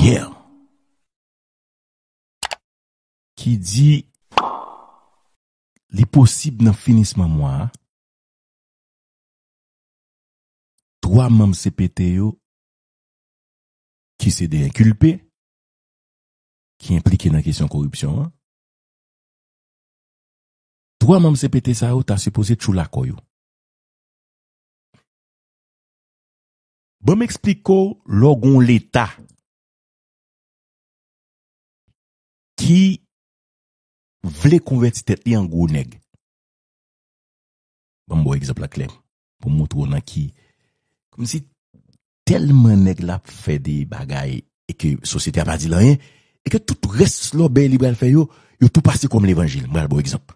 Yeah. Ki di Li posib nan finisman mwa a, 3 manm cpt yo ki se 2 enkilpe ki enplike nan kesyon koripsyon an, 3 manm cpt sa yo ta sipoze tjou lakò yo. Ban m eksplike w lè w gen yon Leta ki vle konvèti tèt li an gwo nèg. Ban m ba w egzanp la klè pou m montre w nan ki kòmsi tèlman nèg la ap fè de bagay e ke sosyete a pa di l anyen e ke tout rès lòbèy li pral fè yo, yo tou pase kòm levanjil. M pral ba w egzanp.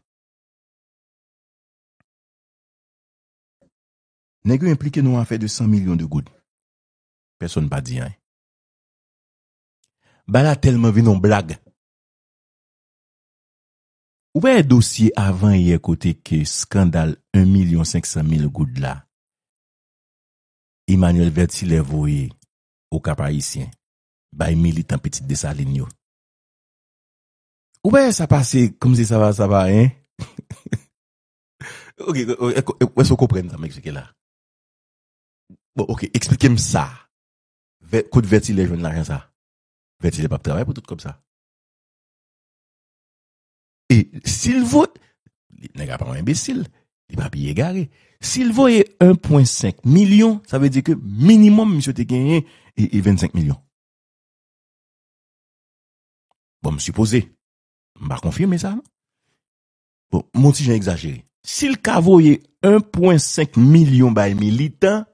Nèg yo enplike nan yon afè de 100 milyon de goud. Pèsonn pa di anyen. Ba la tèlman vin yon blag. Ou pa wè dosye avan yè kote ke skandal 1 milyon 500 mil goud la Emmanuel Vertilè voye Okap Ayisyen bay militan Pitit Desalin yo. Ou pa wè sa pase kòmsi sa pa anyen. Ok, wè sou konprenn sa m eksplike la. Bon, ok, eksplike m sa. Kot vètilè jwenn lajan sa? Vètilè pap travay pou tout kòb sa. E sil vo, nèg la pa yon enbesil, li pa pi egare. Sil voye 1.5 milyon, sa vle di ke minimum misye te genyen e 25 milyon. Bon, m sipoze, m pa konfime sa. Bon, m on ti jan egzajere. Si l ka voye 1 pwen 5 milyon bay militan,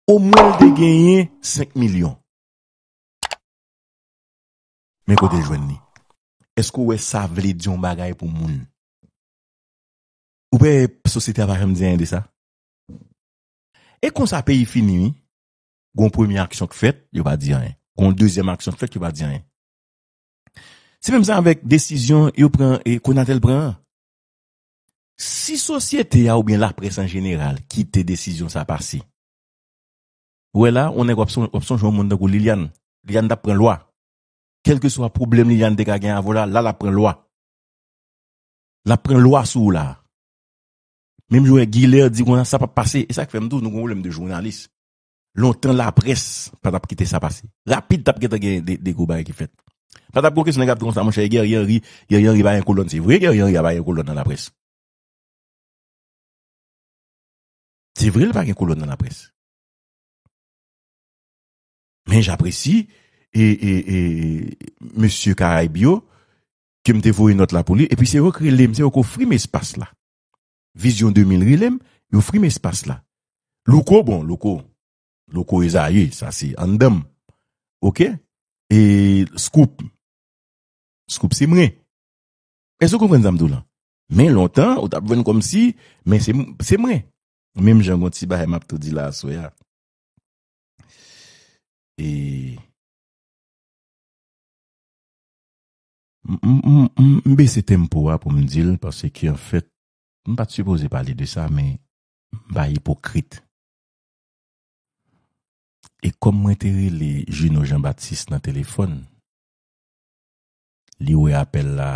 omwen l te genyen 5 milyon. Men kote l jwenn li. Èske ou wè sa vle di yon bagay pou moun? Ou wè sosyete a pa janm di anyen de sa? E konsa peyi fini wi. Gon premye aksyon k fèt, yo pa di anyen. Gon dezyèm aksyon k fèt, yo pa di anyen. Se menm jan avèk desizyon yo pran e Conatel pran an. Si sosyete a oubyen laprès an jeneral kite desizyon sa pase, ou wè la, on nèg w'ap sonje yon moun tankou Liliane. Liliane t'ap pran lwa. Kèlkeswa pwoblèm Liliane te ka gen avè w la, la l'ap pran lwa. L'ap pran lwa sou ou la. Menm jan wè Guilert di konsa sa p'ap pase. E sa k fè m di w nou gen yon pwoblèm de jounalis. Lontan laprès pa t ap kite sa pase. Rapid t ap gentan gen de gwo bagay ki fèt. Pa t ap gen okenn sòt nèg ap di konsa monchè Guerrier Henry, Guerrier Henry pa gen kolòn. Se vre Guerrier Henry a pa gen kolòn nan laprès. Se vre l pa gen kolòn nan laprès. Men japresi e mesye Karayb yo ke m te voye nòt la pou li epi se yo k rele m, se yo k ofri m espas la. Vision 2000 rele m y ofri m espas la Louko bon Louko Louko Esaü sa se anndan m ok e Scoop Scoop se mwen èske w konprann sa m di w lan men lontan ou t ap jwenn kòm si men se se mwen menm jan gon ti bagay m ap tou di la aswè a e. M bese tempo a pou m di l paske anfèt m pa t sipoze pale de sa men m pa ipokrit. E kòm mwen te rele Juno Jean Baptiste nan telefòn, li wè apèl la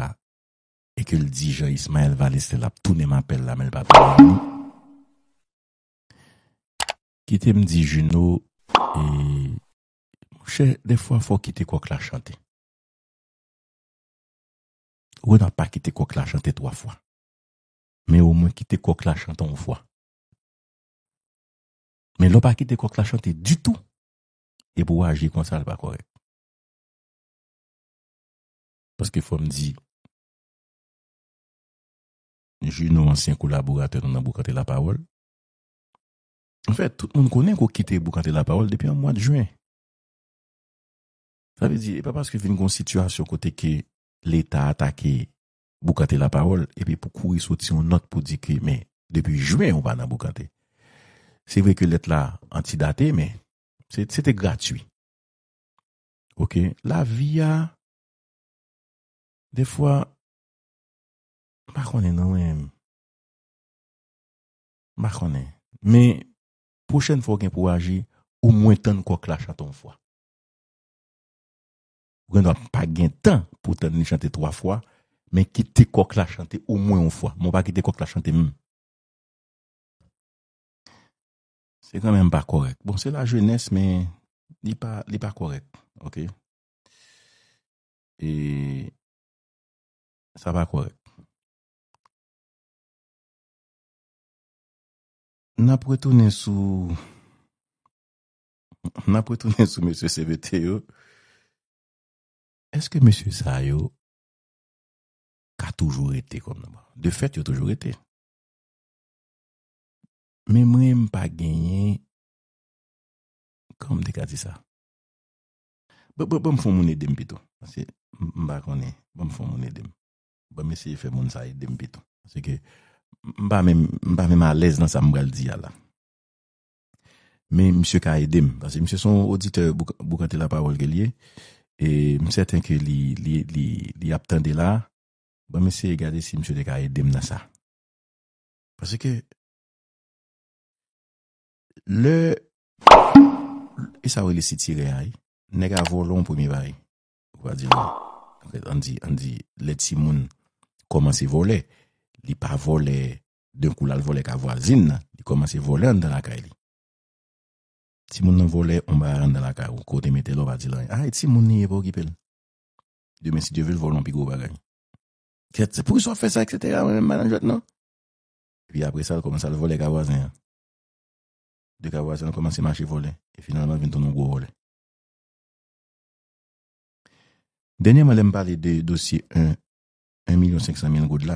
e ke l di Jean Ismael Valestin l ap tounen m apèl la men l pa tounen m li. Kite m di Juno e monchè dèfwa fò w kite kòk la chante. Renard pa kite kòk la chante 3 fwa men omwen kite kòk la chante on fwa men lè w pa kite kòk la chante ditou epi w aji konsa l pa kòrèk paske fò m di Juno ansyen kolaboratè nou nan Boukante Lapawòl anfèt tout moun konnen ke w kite Boukante Lapawòl depi an mwad jen. Sa vle di, e pa paske vin gen yon sitiyasyon kote ke Leta atake boukante lapawòl epi pou kouri soti yon nòt pou di ke men depi Jwen ou pa nan boukante. Se vre ke lèt la antidate men se te gratui. Ok, lavi a defwa m pa konnen non mwen. M pa konnen. Men pwochèn fwa ou gen pou aji omwen tann kòk la chante yon fwa. Renois pa gen tan pou tann li chante 3 fwa, men kite kòk la chante omwen yon fwa. Men w pa kite kòk la chante menm. Se kanmenm pa kòrèk. Bon, se la jenès men li pa li pa kòrèk. Ok. E sa pa kòrèk. N ap retounen sou M ap retounen sou mesye cpt yo. Eske mesye sa yo ka toujou rete kòm nan pral? De fèt yo toujou rete. Men mwen m pa genyen kòman m te ka di sa? Ban m fon moun ede m pito. Paske m pa konnen. Ban m fon moun ede m. Ban m eseye fè moun sa ede m pito. Paske m pa menm alèz nan sa m pral di a la. Men misye ka ede m. Paske misye se yon oditè Boukante Lapawòl ke l ye. E m sèten ke li ap tande la. Banm eseye gade si misye te ka ede m nan sa. Paske, lè, e sa yo rele sitirè a ye? Nèg a vòlò an premye bagay. Ou va di l, an di, an di, lè timoun kòmanse vòlè, li pa vòlè D'un coup lal vole ka vwazin nan li komanse vole anndan lakay li. Timoun nan vole on bagay anndan lakay ou ke w te metel ou pa dil anyen ah e timoun li ye pa okipel. Demen si Dye vel vole on pi gwo bagay. Kèt se poukisa wap fè sa etc mwen menm m pa nan jwèt non. Epi apre sa l komanse al vole ka vwazen an. De ka vwazen an komanse mache vole e finalman vin tounen on gwo vole. Dènyèman lèm pale de dosye 1 1 milyon 500 mil goud la.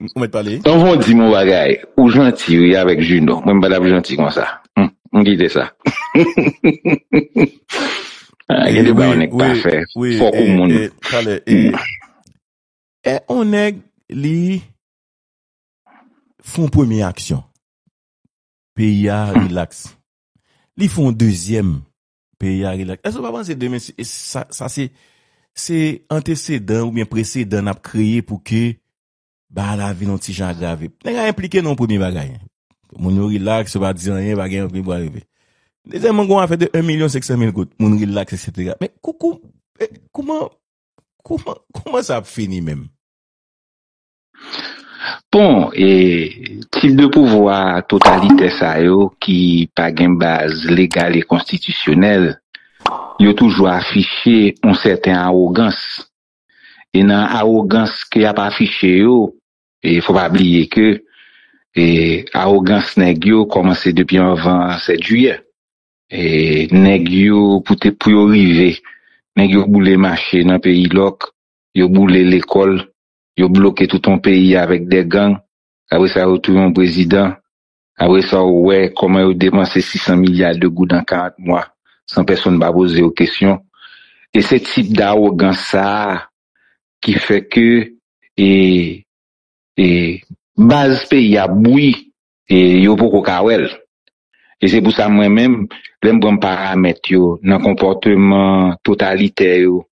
Ou met pale. Tonvon dim yon bagay ou janti wi avèk Juno mwen m patap janti konsa m kite sa ah gen de bagay yon nèg pa fè fòk ou moun eh on nèg li fon premye aksyon peyi a relax li fon dezyèm Peyi a rilaks. Èske w pa panse demen se, sa, sa se, se antesedan oubyen presedan n ap kreye pou ke bagay la vin yon ti jan agrave? Nèg la enplike nan yon premye bagay. Moun yo rilaks, yo pa di anyen, pa gen anpil bwa rive. Dezyèmman, gen yon afè de 1 milyon 500 mil goud. Moun rilaks eksetera. Men, kou, kou, kouman, kouman, kouman sa ap fini menm? Bon, e tip de pouvwa totalitè sa yo ki pa gen baz legal e konstitisyonèl, yo toujou afiche yon sèten awogans. E nan awogans ke y ap afiche yo, e fò pa bliye ke e awogans nèg yo kòmanse depi anvan 7 jiyè. E nèg yo pou te pou yo rive, nèg yo boule mache nan peyi lòk, yo boule lekòl, yo bloke tout yon peyi avèk de gang, apre sa yo touye yon prezidan, apre sa ou wè kòman yo depanse 600 milya de goud an 40 mwa san pèsonn pa poze yo kesyon. E se tip dawogans sa a ki fè ke e e. Baz peyi a bouyi e yo poko ka wè l. E se pou sa mwen menm, lè m pran paramèt yo nan konpòteman totalitè yo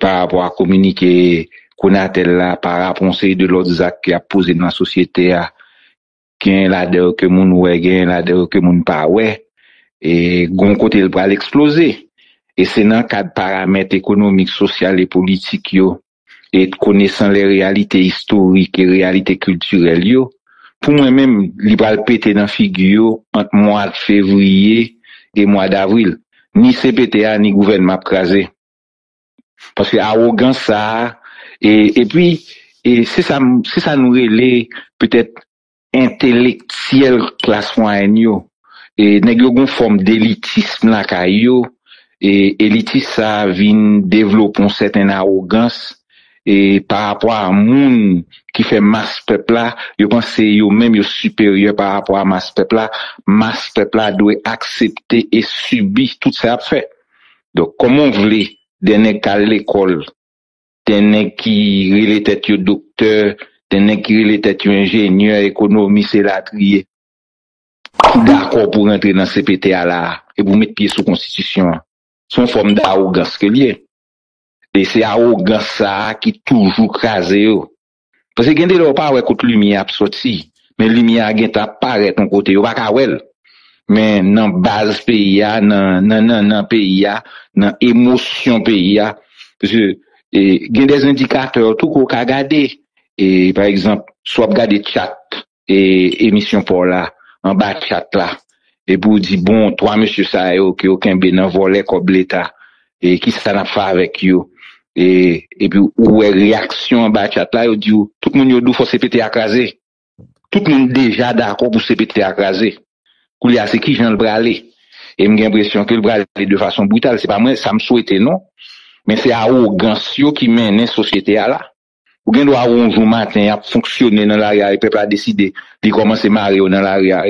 parapò a kominike Conatel la, parapò yon seri de lòt zak ki ap poze nan sosyete a, gen ladan yo ke moun wè, gen ladan yo ke moun pa wè, e gon kote l pral eksploze. E se nan kad paramèt ekonomik, sosyal e politik yo, e konesan lè reyalite istorik e reyalite kiltirèl yo, pou mwen menm, li pral pete nan figi yo ant mwad fevriye e mwad avril. ni cpt a ni gouvènman ap kraze paske awogans sa e epi e se sa se sa nou rele petèt entelektyèl klas mwayèn yo e nèg yo gon fòm delitism lakay yo e elitis sa vin devlope yon sèten awogans e pa rapò a moun ki fè mas pèp la, yo panse yo menm yo siperyè pa rapò a mas pèp la, mas pèp la dwe aksepte e sibi tout sa y ap fè. Donk kòman w vle de nèg k al lekòl, de nèg ki rele tèt yo doktè, de nèg ki rele tèt yo enjenyè, ekonomis elatriye ki dakò pou rantre nan cpt a la a e pou met pye sou konstitisyon an? Se yon fòm dawogans ke l ye. E se awogans sa a ki toujou kraze yo. Paske gen de lè ou pa wè kot limyè a ap soti, men limyè a gentan ap parèt yon kote, yo pa ka wè l. Men nan baz peyi a, nan nannan peyi a, nan emosyon peyi a. Paske gen de endikatè tou ke w ka gade. E pa egzanp, si w ap gade tchat e emisyon pa w la anba chat la epi w di bon 3 mesye sa yo ke w kenbe nan vòlè kòb leta e kisa n ap fè avèk yo e epi w wè reyaksyon anba chat la yo di w tout moun yo di w fò cpt a kraze tout moun deja dakò pou cpt a kraze koulye a se kijan l prale e m gen enpresyon ke l prale de fason brital se pa mwen sa m swete non men se awogans yo ki mennen sosyete a la. Ou gen dwa wè yon jou maten y ap fonksyone nan lari a e pèp la deside li kòmanse mare yo nan lari a.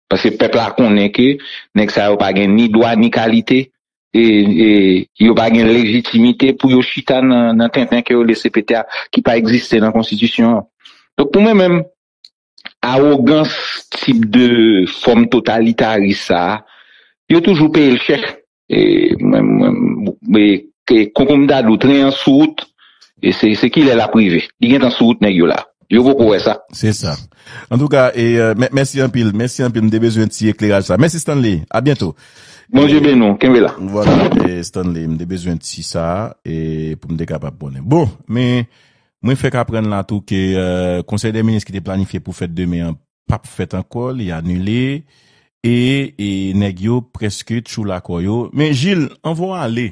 Paske pèp la konnen ke nèg sa yo pa gen ni dwa ni kalite e yo pa gen lejitimite pou yo chita nan tenten ke yo lese pete a ki pa egziste nan konstitisyon an. Donk pou mwen menm, Awogans tip de fòm totalitaris sa a, yo toujou peye l chè. Konkonm dadou, tren an sou wout, se kilè l ap rive? Li gentan sou wout nèg yo la. Yo poko wè sa. Se sa. Antouka, mèsi anpil. Mèsi anpil. M te bezwen ti ekleraj sa. Mèsi Stanley. A byento. Bondye beni w. Kenbe la. Vwala, Stanley. M te bezwen ti sa a pou m te kapab konnen. Bon, men, Mwen fèk aprann la tou ke konsèy dè minis ki te planifye pou fèt demen an pap fèt ankò, li anile e nèg yo prèske tchoula kò yo. Men Gilles, anvan w ale,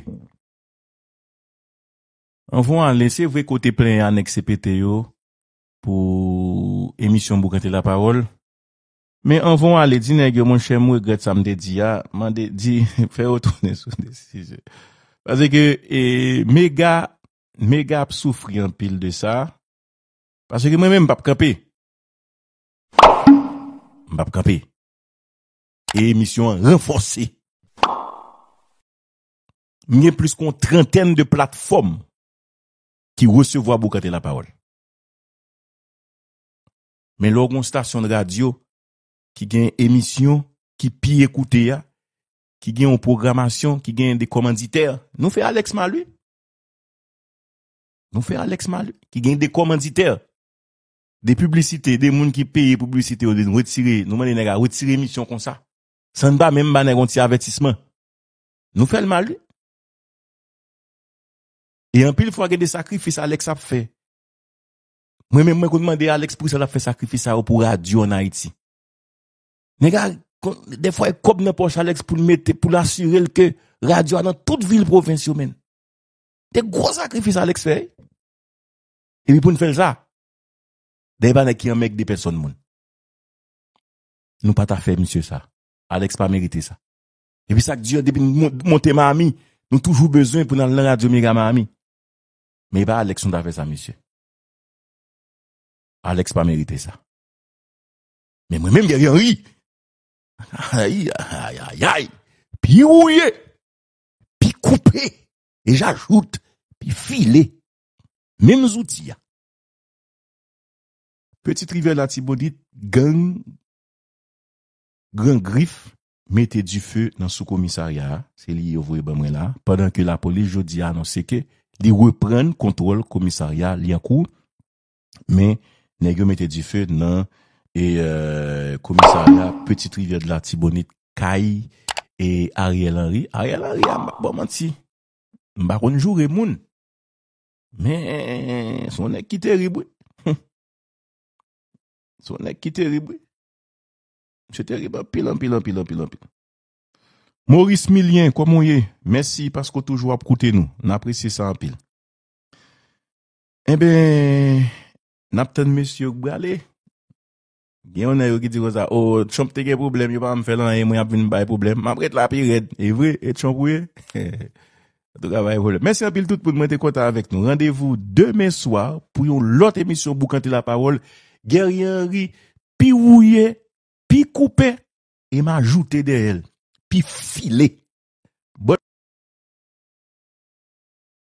anvan w ale, se vre ke w te plenyen a nèg cpt yo pou emisyon Boukante la pawòl, men anvan w ale di nèg yo monchè m regrèt sa m te di a, mande, di, fè yo tounen sou de sijè. Pase ke mega Mega ap soufri anpil de sa paske mwen menm m pap kanpe m pap kanpe e emisyon an ranfòse m gen plis ke yon trantèn de platfòm ki resevwa Bokante lapawòl men lè w gen yon stasyon de radyo ki gen emisyon ki pi ekoute a ki gen yon pwogramasyon ki gen de kòmanditè nou fè Alex mal wi Nou fè Alex Maly ki gen de komanditè, de piblisite, de moun ki peye pou piblisite yo vin retire, nou mande nèg a retire emisyon konsa. San pa menm ba nèg yon ti avètisman. Nou fè l mal wi. E anpil fwa gen de sakrifis Alex ap fè. Mwen menm mwen konn mande Alex pou ki sa l ap fè sakrifis sa yo pou radyo an Ayiti. Nèg la defwa e kòb nan pòch Alex pou l mete pou l asire l ke radyo a nan tout vil pwovens yo men. De gwo sakrifis Alex fè. E pi pou n fè l sa. Dèyè pa nèg ki anmègde pèsòn moun. Nou pa ta fè misye sa. Alex pa merite sa. E pi sa k di an depi nou monte Miami nou toujou bezwen pou n al nan radyo mega Miami. Men e pa Alex nou ta fè sa misye. Alex pa merite sa. Men mwen menm Guerrier Henry. Ay, ay, ay, ay. Pi wouye. Pi koupe. E j'ajoute, pi file. Menm zouti a. Petite rivière latibonit, gang, gran grif, mete du feu nan sou komisarya a. Se li yo voye ban mwen la. Pandan ke lapolis jodi a anonse ke li reprann kontwòl komisarya Liancourt. Men nèg yo mete dife nan komisarya Petite Rivière de l'Artibonite kay Ariel Henry. Ariel Henry a map ba w manti. M pa konn joure moun. Men se yon nèg ki terib wi. Se yon nèg ki terib wi. Misye terib anpil anpil anpil anpil anpil. Maurice Milien kòman w ye? Mèsi paske w toujou ap koute nou. N apresye sa anpil. Enben, n ap tann mesye yo k prale. Gen yon nan yo ki di konsa, O, Trump te gen pwoblèm, yo pa janm fè l anyen, mwen y ap vin bay pwoblèm. M ap ret la pi rèd. E vre, e Trump ou ye? Antouka, pa gen pwoblèm. Mèsi anpil tout moun, mwen te kontan avèk nou. Randevou demen swa pou yon lòt emisyon Boukante Lapawòl. Guerrier Henry, pi wouye, pi koupe, e m ajoute dèyè l, pi file. Bon.